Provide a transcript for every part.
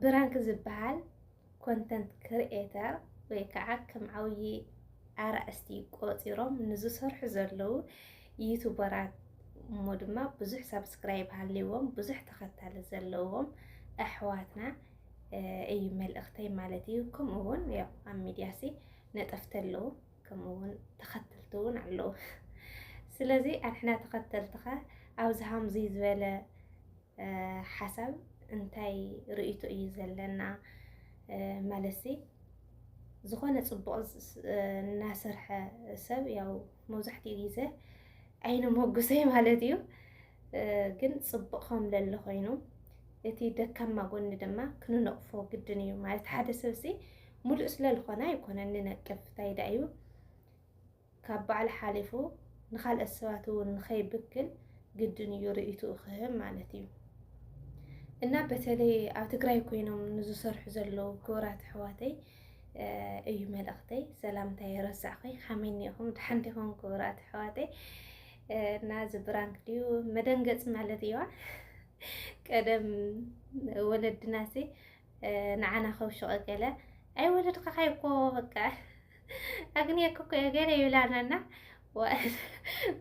ብራንክ ዝበሃል ኮንተንት ክርኤተር ወይ ከዓ ከም ዓብዪ ኣርእስቲ ቆፂሮም ንዝሰርሑ ዘለዉ ዩቱበራት እሞ ድማ ብዙሕ ሳብስክራይብ ሃልዎም ብዙሕ ተኸታሊ ዘለዎም ኣሕዋትና እዩ መልእኽተይ ማለት እዩ። ከምኡ እውን ያው ኣብ ሚዲያ ሲ ነጠፍቲ ኣለዉ ከምኡ እውን ተኸተልቲ እውን ኣለዉ። ስለዚ ኣንሕና ተኸተልትኻ ኣብዚ ሃምዚ ዝበለ ሓሳብ እንታይ ርእይቶ እዩ ዘለና ማለትሲ ዝኾነ ፅቡቕ እናሰርሐ ሰብ ያው መብዛሕትኡ ግዜ ዓይነ ሞጉሰይ ማለት እዩ ግን ፅቡቕ ከም ለለ ኮይኑ እቲ ደካማ ጎኒ ድማ ክንነቕፎ ግድን እዩ ማለት ሓደ ሰብሲ ሙሉእ ስለዝኾነ ኣይኮነን ንነቅፍ ታይ ዳእዩ ካብ ባዕሉ ሓሊፉ ንኻልኦት ሰባት እውን ንኸይብክል ግድን እዩ ርእይትኡ ክህብ ማለት እዩ። እና በተለይ ኣብ ትግራይ ኮይኖም ንዝሰርሑ ዘለዉ ክቡራት ኣሕዋተይ እዩ መልእኽተይ። ሰላምታይ ረሳዕኺ ከመይ እኒኹም ደሓን ዲኹም ክቡራት ኣሕዋተይ? እና እዚ ብራንክ ድዩ መደንገፂ ማለት እዩዋ ቀደም ወለድናሲ ንዓና ከውሽቀ ገለ ኣይ ወለድካኻ ይኮ በቃ ኣግንየክ እኮ ገለ ይብላናና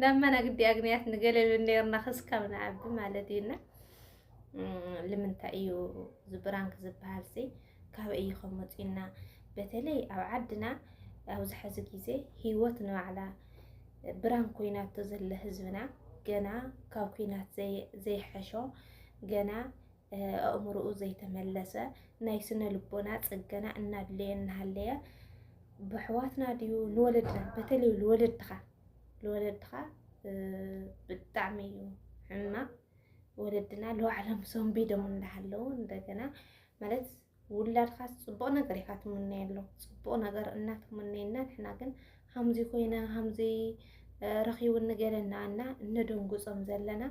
ናመና ግዲ ኣግንያት ንገለ ይብል ነርና ክስካብ ንዓቢ ማለት እዩና ልምንታይ እዩ ዝብራንክ ዝበሃል ሲ ካብ እዩ ከመፅና በተለይ ኣብ ዓድና ኣብዚ ሕዚ ግዜ ሂወት ንባዕላ ብራን ኮይናቶ ዘለ ህዝብና ገና ካብ ኩናት ዘይሐሾ ገና ኣእምሮኡ ዘይተመለሰ ናይ ስነ ልቦና ፅገና እናድለየ እናሃለየ ብሕዋትና ድዩ ንወለድና በተለይ ንወለድኻ ንወለድኻ ብጣዕሚ እዩ ሕማቅ ወለድና ንባዕሎም ሰንቢዶም እንዳሃለው እንደገና ማለት ውላድካ ፅቡቅ ነገር ኢካ ትምነየሉ ፅቡቅ ነገር እናትምነየና ንሕና ግን ሃምዚ ኮይነ ሃምዚ ረኪቡ ንገለና እና እነደንጉፆም ዘለና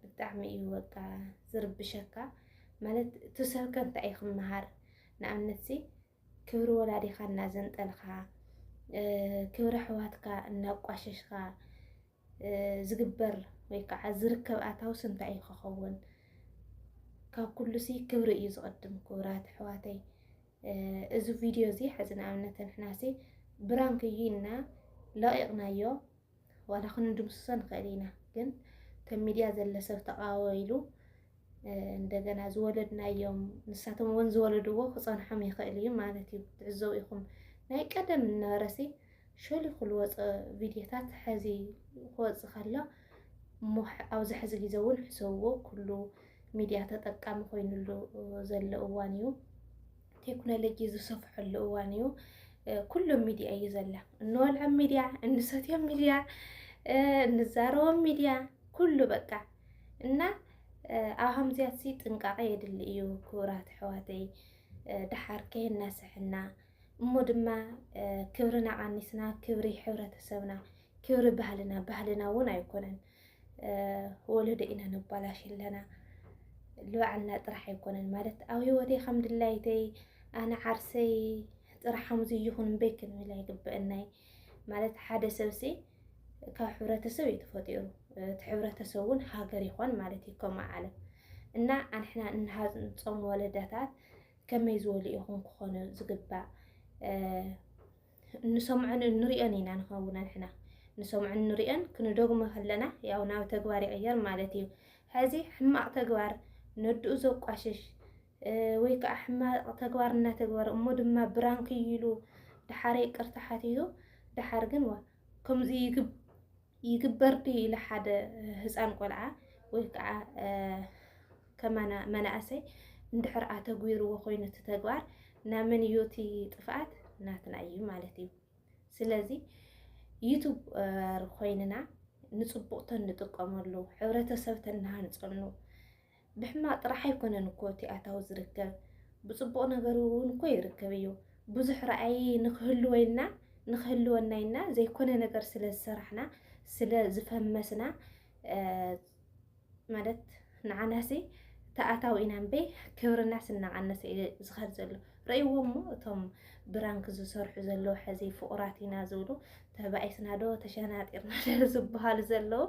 ብጣዕሚ እዩ በቃ ዝርብሸካ ማለት ትሰርከ እንታይ እዩ ክመሃር ንኣብነት ሲ ክብሪ ወላዲኻ እናዘንጠልካ ክብሪ ኣሕዋትካ እናቋሸሽካ ዝግበር ወይ ከዓ ዝርከብ ኣታውስ እንታይ እዩ ክኸውን ካብ ኩሉ ሲ ክብሪ እዩ ዝቐድም ክብራት ኣሕዋተይ እዚ ቪድዮ እዚ ሕዚ ንኣብነት ንሕና ሲ ብራንክ እዩ እና ለቂቕናዮ ዋላ ክንድምስሶ ንኽእል ኢና፣ ግን እቶም ሚድያ ዘለ ሰብ ተቃወ ኢሉ እንደገና ዝወለድናዮም ንሳቶም እውን ዝወለድዎ ክፀንሖም ይኽእል እዩ ማለት እዩ። ትዕዘቡ ኢኹም ናይ ቀደም ነበረሲ ሸሊኹ ዝወፀ ቪድዮታት ሕዚ ክወፅእ ከሎ እሞ ኣብዚ ሕዚ ግዜ እውን ሕሰብዎ ኩሉ ሚድያ ተጠቃሚ ኮይኑሉ ዘሎ እዋን እዩ። ቴክኖሎጂ ዝሰፍሐሉ እዋን እዩ። ኩሎም ሚዲያ እዩ ዘላ እንወልዖም ሚዲያ፣ እንሰትዮም ሚዲያ፣ እንዛረቦም ሚዲያ ኩሉ በቃ እና ኣብ ከምዚያት ጥንቃቐ የድሊ እዩ ክቡራት ኣሕዋተይ ድሓር ከየናስሐና እሞ ድማ ክብርና ቀኒስና ክብሪ ሕብረተሰብና ክብሪ ባህልና ባህልና እውን ኣይኮነን ወለዶ ኢና ነባላሽ ኣለና ልባዕልና ጥራሕ ኣይኮነን ማለት ኣብ ህይወተይ ከም ድላይተይ ኣነ ዓርሰይ ጥራሕ ከምዚ ይኹን እምበይ ክንብል ኣይግበአናይ ማለት ሓደ ሰብሲ ካብ ሕብረተሰብ እዩ ተፈጢሩ እቲ ሕብረተሰብ እውን ሃገር ይኾን ማለት እዩ ከምኡ ዓለም እና ኣንሕና እንሃንፆም ወለዳታት ከመይ ዝበሉ ኢኹም ክኾኑ ዝግባእ እንሰምዖን እንሪኦን ኢና ንኸውን ኣንሕና ንሰምዖን እንሪኦን ክንደግሞ ከለና ያው ናብ ተግባር ይቕየር ማለት እዩ። ሕዚ ሕማቕ ተግባር ነድኡ ዘቋሽሽ ወይ ከዓ ሕማቕ ተግባር እናተግበረ እሞ ድማ ብራንክ ይሉ ደሓር ይቅርታ ሓቲቱ ደሓር ግን ዋ ከምዚ ይግብ ይግበር ድዩ ኢለ ሓደ ህፃን ቆልዓ ወይ ከዓ ከማና መናእሰይ እንድሕር ኣተግቢርዎ ኮይኑ እቲ ተግባር ናመን እዩ እቲ ጥፍኣት ናትና እዩ ማለት እዩ። ስለዚ ዩቱበር ኮይንና ንፅቡቅ ተንጥቀመሉ ሕብረተሰብ ተናሃንፀሉ ብሕማቕ ጥራሕ ኣይኮነን እኮ እቲ ኣታዊ ዝርከብ፣ ብጽቡቕ ነገር እውን እኮ ይርከብ እዩ። ብዙሕ ራእይ ንክህልወይና ንክህልወና ኢልና ዘይኮነ ነገር ስለ ዝሰራሕና ስለ ዝፈመስና ማለት ንዓናሲ ተኣታዊ ኢና እምበይ ክብርና ስናቐነሰ እዩ ዝኸድ ዘሎ ረእይዎ እሞ እቶም ብራንክ ዝሰርሑ ዘለዉ ሕዚ ፍቑራት ኢና ዝብሉ ተባኢስና ዶ ተሸናጢርና ዶ ዝበሃሉ ዘለዉ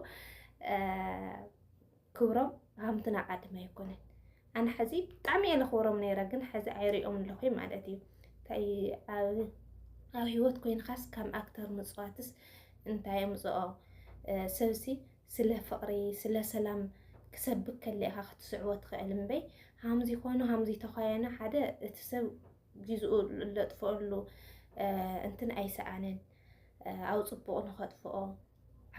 ክብሮም ሃምትና ዓድመ ኣይኮነን ኣነ ሕዚ ብጣዕሚ እየ ለኽብሮም ነይረ ግን ሕዚ ኣይሪኦም ኣለኹ ማለት እዩ እንታይ ኣብ ኣብ ሂወት ኮይንካስ ከም ኣክተር ምፅዋትስ እንታይ ኣምፅኦ ሰብሲ ስለ ፍቅሪ ስለ ሰላም ክሰብክ ከለ ኢኻ ክትስዕቦ ትኽእል እምበይ ሃምዚ ኮይኑ ሃምዚ ተኳየነ ሓደ እቲ ሰብ ግዝኡ ለጥፈሉ እንትን ኣይሰኣንን ኣብ ፅቡቅ ንኸጥፍኦ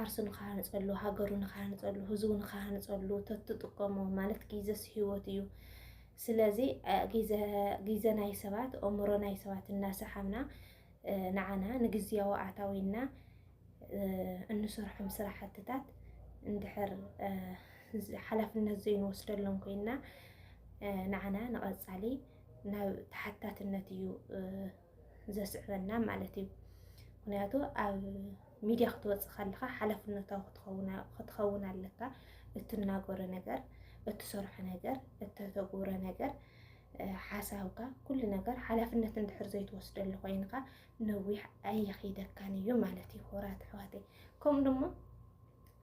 ዓርሱ ንክሃንፀሉ ሃገሩ ንክሃንፀሉ ህዝቡ ንክሃንፀሉ ተትጥቀሞ ማለት ጊዘስ ህይወት እዩ። ስለዚ ጊዘ ናይ ሰባት ኦምሮ ናይ ሰባት እናሰሓብና ንዓና ንግዝያዊ ኣታዊና እንሰርሖም ስራሕትታት እንድሕር ሓላፍነት ዘይንወስደሎም ኮይና ንዓና ንቐፃሊ ናብ ተሓታትነት እዩ ዘስዕበና ማለት እዩ። ምክንያቱ ኣብ ሚድያ ክትወፅእ ከለካ ሓላፍነታዊ ክትኸውን ኣለካ። እትናገሮ ነገር፣ እትሰርሖ ነገር፣ እተተግብሮ ነገር፣ ሓሳብካ ኩሉ ነገር ሓላፍነት እንድሕር ዘይትወስደሉ ኮይንካ ነዊሕ ኣይኸይደካን እዩ ማለት እዩ። ሆራት ኣሕዋተይ ከምኡ ድማ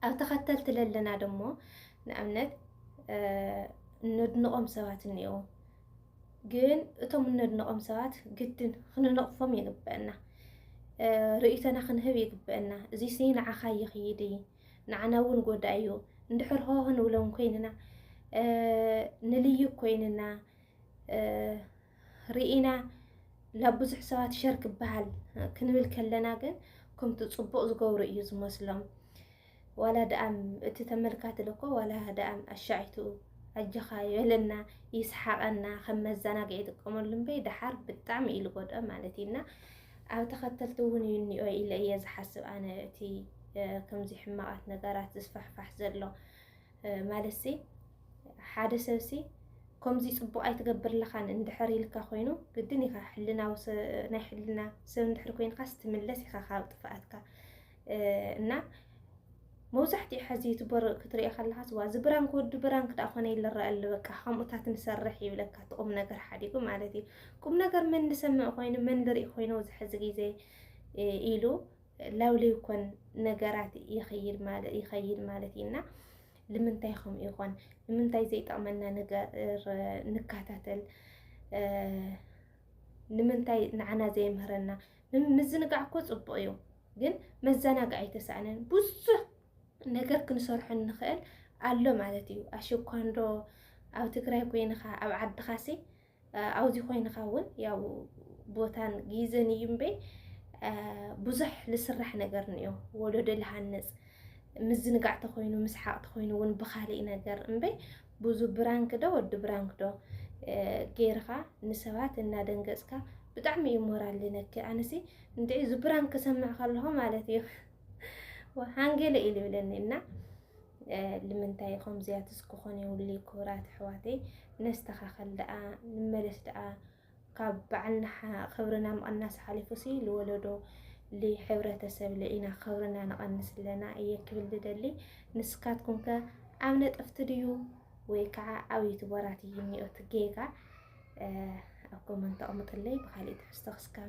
ኣብ ተኸተልቲ ለለና ደግሞ ንኣብነት ነድንቖም ሰባት እኒኦ ግን እቶም እነድንቖም ሰባት ግድን ክንነቕፎም ይግበአና፣ ርእይቶና ክንህብ ይግበአና። እዚሲ ንዓኻ ይኽይድ እዩ፣ ንዓና እውን ጎዳኢ እዩ። እንድሕር ሆ ክንብሎም ኮይንና ንልዩ ኮይንና ርኢና ናብ ብዙሕ ሰባት ሸር ክበሃል ክንብል ከለና ግን ከምቲ ፅቡቕ ዝገብሩ እዩ ዝመስሎም። ዋላ ደኣም እቲ ተመልካቲ ልኮ ዋላ ደኣም ኣሻዒቱ ኣጀኻ ይበለና ይስሓቐና ከም መዘናግዒ ይጥቀመሉ እምበይ ደሓር ብጣዕሚ እዩ ዝጎድኦ ማለት እዩ እና ኣብ ተኸተልቲ እውን እዩ እኒኦ ኢለ እየ ዝሓስብ ኣነ እቲ ከምዚ ሕማቓት ነገራት ዝስፋሕፋሕ ዘሎ ማለት ሲ ሓደ ሰብ ሲ ከምዚ ፅቡቕ ኣይትገብር ኣለኻን እንድሕር ኢልካ ኮይኑ ግድን ኢኻ ሕልናዊ ናይ ሕልና ሰብ እንድሕር ኮይንካስ ትምለስ ኢኻ ካብ ጥፍኣትካ እና መብዛሕትኡ ሕዚ ዩቱበር ክትሪኦ ከለካስ ዋ እዚ ብራንክ ወዲ ብራንክ ዳ ኮነ ይልረኣሉ በቃ ከምኡታት ንሰርሕ ይብለካ እቲ ቁም ነገር ሓዲጉ ማለት እዩ ቁም ነገር መን ዝሰምዕ ኮይኑ መን ዝርኢ ኮይኑ እዚ ሕዚ ግዜ ኢሉ ላውሊ ይኮን ነገራት ይኸይድ ማለት ይኸይድ ማለት እዩና ልምንታይ ከምኡ ይኾን ንምንታይ ዘይጠቕመና ነገር ንከታተል ንምንታይ ንዓና ዘይምህረና ምዝንጋዕ እኮ ፅቡቅ እዩ ግን መዘናግዒ ኣይተሳእነን ብዙሕ ነገር ክንሰርሖ ንኽእል ኣሎ ማለት እዩ ኣሸኳንዶ ኣብ ትግራይ ኮይንኻ ኣብ ዓድኻሲ ኣብዚ ኮይንኻ እውን ያው ቦታን ግዘን እዩ እምበይ ብዙሕ ዝስራሕ ነገር ንዮ ወለዶ ዝሃንፅ ምዝንጋዕ ተኮይኑ ምስሓቅ ተኮይኑ እውን ብካሊእ ነገር እምበይ ብዙ ብራንክ ዶ ወዲ ብራንክ ዶ ገይርኻ ንሰባት እናደንገፅካ ብጣዕሚ እዩ ሞራል ልነክ ኣነሲ እንድዒ እዚ ብራንክ ክሰምዕ ከለኹ ማለት እዩ ወሓንጌለ ኢሉ ይብለኒ እና ልምንታይ ከምዚያት እስክኾን የውሊ ክብራት ኣሕዋተይ ነስተኻኸል ደኣ ንመለስ ደኣ ካብ በዓልና ክብርና ምቕናስ ሓሊፉ ሲ ልወለዶ ልሕብረተሰብ ለኢና ክብርና ንቐንስ ኣለና እየ ክብል ዝደሊ ንስካትኩም ከ ኣብ ነጠፍቲ ድዩ ወይ ከዓ ኣብ ዩቱበራት እዩ እኒኦት ጌጋ ኣብ ኮመንት ኣቕምጥለይ ብካሊእ ትሕዝቶ ክስካብ